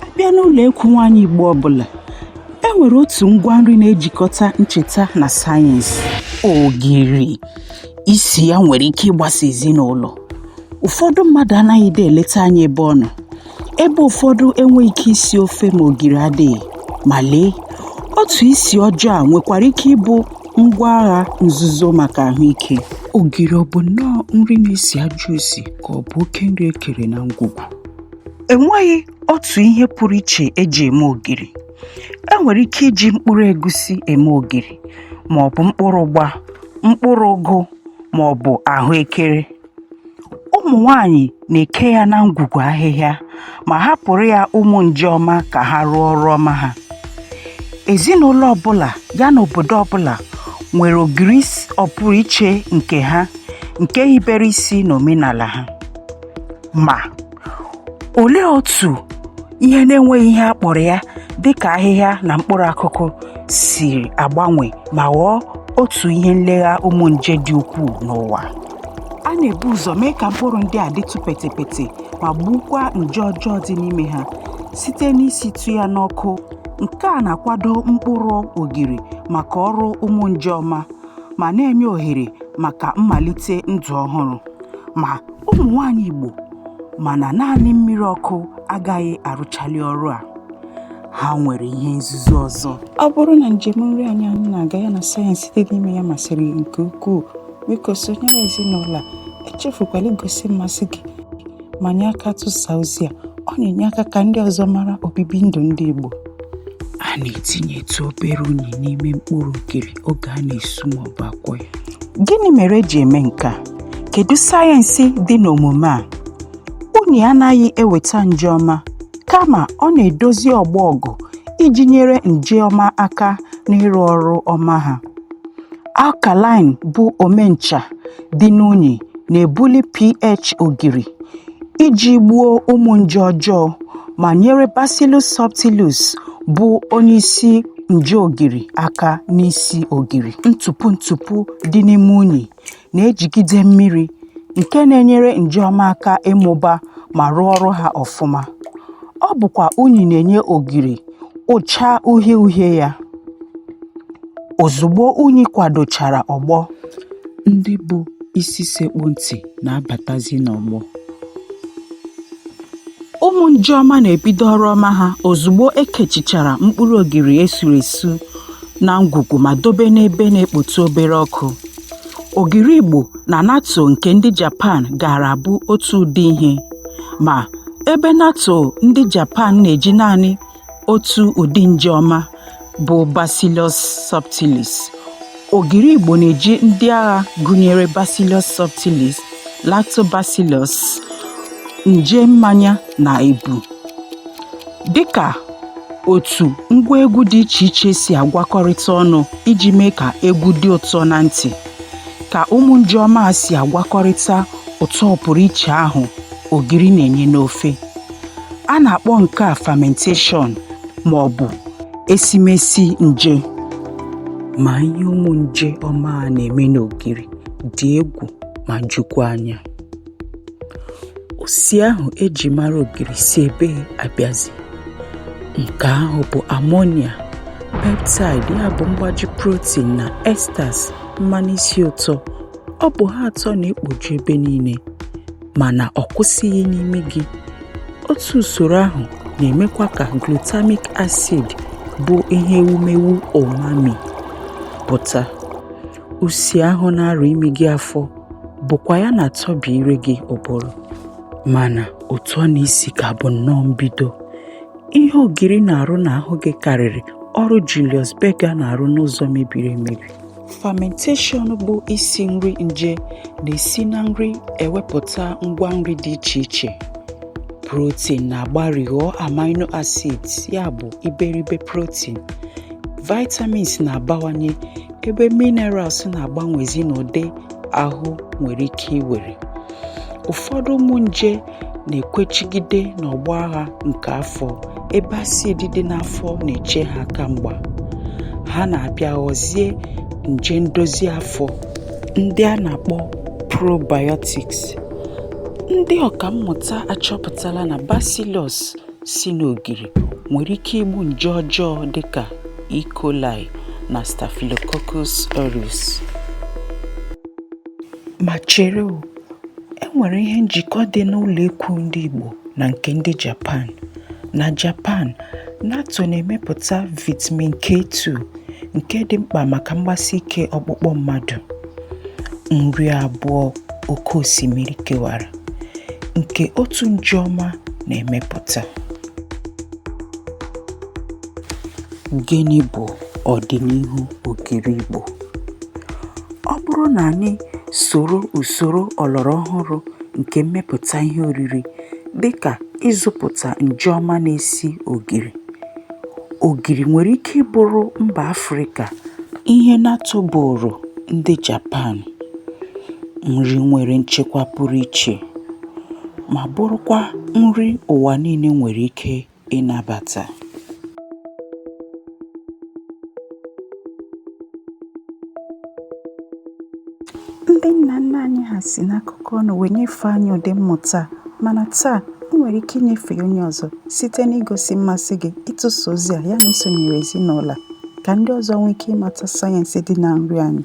a bịa n'ụlọ ekwu nwaanyị Igbo ọbụla e nwere otu ngwa nri na-ejikọta ncheta na sayensị ogiri isi ya nwere ike ịgbasa ezinụlọ ụfọdụ mmadụ anaghịdị eleta anya ebe ọ nọ ebe ụfọdụ enweghị ike isi ofe ma ogiri adịghị ma lee otu isi ọjọọ a nwekwara ike ịbụ ngwa agha nzuzo maka ahụike ogiri ọ bụ nnọọ nri na-esi ajọ isi ka ọ bụ oke nri e kere na ngwugwu enweghị otu ihe pụrụ iche eji eme ogiri e nwere ike iji mkpụrụ egusi eme ogiri ma ọ bụ mkpụrụ ụgba mkpụrụ ụgụ ma ọ bụ ahụekere ụmụ nwaanyị na-eke ya na ngwugwu ahịhịa ma hapụrụ ya ụmụ nje ọma ka ha rụọ ọrụ ọma ha ezinụlọ ọbụla ya na obodo ọbụla nwere ogiri ọpụrụ iche nke ha nke hibere isi n'omenala ha ma olee otu ihe na-enweghị ihe a kpọrọ ya dị ka ahịhịa na mkpụrụ akụkụ siri agbanwe ma ghọọ otu ihe nlegha ụmụ nje dị ukwuu n'ụwa a na-ebu ụzọ mee ka mkpụrụ ndị a dịtụ petepete ma gbuokwa nje ọjọọ dị n'ime ha site n'isitụ ya n'ọkụ nke a na-akwado mkpụrụ ogiri maka ọrụ ụmụ nje ọma ma na-enye ohere maka mmalite ndụ ọhụrụ ma ụmụ nwaanyị Igbo ma na naanị mmiri ọkụ agaghị arụchali ọrụ a ha nwere ihe nzuzo ọzọ ọ bụrụ na njem nri anyị anyị na-aga ya na sayensị dị n'ime ya masịrị gị nke ukwuu biko sonyere ezinụlọ a echefukwala igosi mmasị gị ma nye aka tụsaa ozi a ọ na-enye aka ka ndị ọzọ mara obibi ndụ ndị Igbo a na-etinyetụ obere unyi n'ime mkpụrụ ogiri oge a na-esu maọbụ akwọ ya gịnị mere eji eme nke a kedu sayensị dị n'omume a unyi anaghị eweta nje ọma kama ọ na-edozi ọgbọ ọgụ iji nyere nje ọma aka n'ịrụ ọrụ ọma ha alkaline bụ omencha dị n'unyi na-ebuli pH ogiri iji gbuo ụmụ nje ọjọọ ma nyere Bacillus subtilis bụ onye isi nje ogiri aka n'isi ogiri ntụpụ ntụpụ dị n'ime unyi na-ejigide mmiri nke na-enyere nje ọma aka ịmụba ma rụọ ọrụ ha ọfụma. Ọ bụkwa unyi na-enye ogiri ụcha uhie uhie ya. Ozugbo unyi kwadochara ọgbọ, ndị bụ isi sekpụ ntị na-abatazi n'ọgbọ. Ụmụ nje ọma na-ebido ọrụ ọma ha ozugbo ekechichara mkpụrụ ogiri esuru esu na ngwugwu ma dobe n'ebe na-ekpotụ obere ọkụ. Ogiri Igbo na natto nke ndị Japan gaara abụ otu ụdị ihe. Ma, ebe natto ndị Japan na-eji naanị otu ụdị nje ọma bụ Bacillus subtilis, ogiri Igbo na-eji ndị agha gụnyere Bacillus subtilis. lactobacillus nje mmanya na ebu dịka otu ngwa egwu dị iche iche si agwakọrịta ọnụ iji mee ka egwu dị ụtọ na ntị ka ụmụ nje ọma si agwakọrịta ụtọ pụrụ iche ahụ ogiri na-enye n'ofe a na-akpọ nke a fermentation ma ọ bụ esimesi nje ma ihe ụmụ nje ọma a na-eme n'ogiri dị egwu ma jukwa anya usi ahụ eji mara ogiri si ebee abịazi nke ahụ bụ ammonia peptide ya bụ mgbaji protein na esters mmanụ isi ụtọ ọ bụ ha atọ na-ekpoju ebe niile mana ọ kwụsịghị n'imi gị otu usoro ahụ na-emekwa ka glutamic acid bụ ihe ewumewu umami pụta usi ahụ na-arụ imi gị afọ bụkwa ya na-atọbi ire gị ụbụrụ mana ụtọ na isi ka bụ nnọọ mbido ihe ogiri na-arụ n'ahụ gị karịrị ọrụ Julius Berger na-arụ n'ụzọ mebiri emebi fermentation bụ isi nri nje na-esi na nri ewepụta ngwa nri dị iche iche protein na-agbari ghọọ amino acids ya bụ iberibe protein vitamins na-abawanye ebe minerals na-agbanwezi n'ụdị ahụ nwere ike iwere ụfọdụ ụmụ nje na-ekwechigide n'ọgbọ agha nke afọ ebe acid dị n'afọ na-eche ha aka mgba ha na-abịa ghọzie nje ndozi afọ ndị a na-akpọ probiotics ndị ọkammụta achọpụtala na bacillus si n'ogiri nwere ike igbu nje ọjọọ dịka E. coli na Staphylococcus aureus. Ma chere o, e nwere ihe njikọ dị n'ụlọ ekwu ndị Igbo na nke ndị Japan. Na Japan, natto na-emepụta vitamin K2 nke dị mkpa maka mgbasi ike ọkpụkpụ mmadụ. Nri abụọ oke osimiri kewara. nke otu nje ọma na-emepụta. Gịnị bụ ọdịnihu ogiri Igbo? Ọ bụrụ na anyị soro usoro ọlọrọ ọhụrụ nke mmepụta ihe oriri dịka ịzụpụta nje ọma na-esi ogiri, Ogiri nwere ike ịbụrụ mba Afrịka ihe natto bụụrụ ndị Japan nri nwere nchekwa pụrụ iche ma bụrụkwa nri ụwa niile nwere ike ịnabata. Ndị nna nna anyị ha si n'akụkọ ọnụ wee nyefee anyị ụdị mmụta a mana taa ị nwere ike inyefe ya onye ọzọ site n'igosi mmasị gị ịtụsa ozi a ya na isonyere ezinụlọ a ka ndị ọzọ nwee ike ịmata sayensị dị na nri anyị.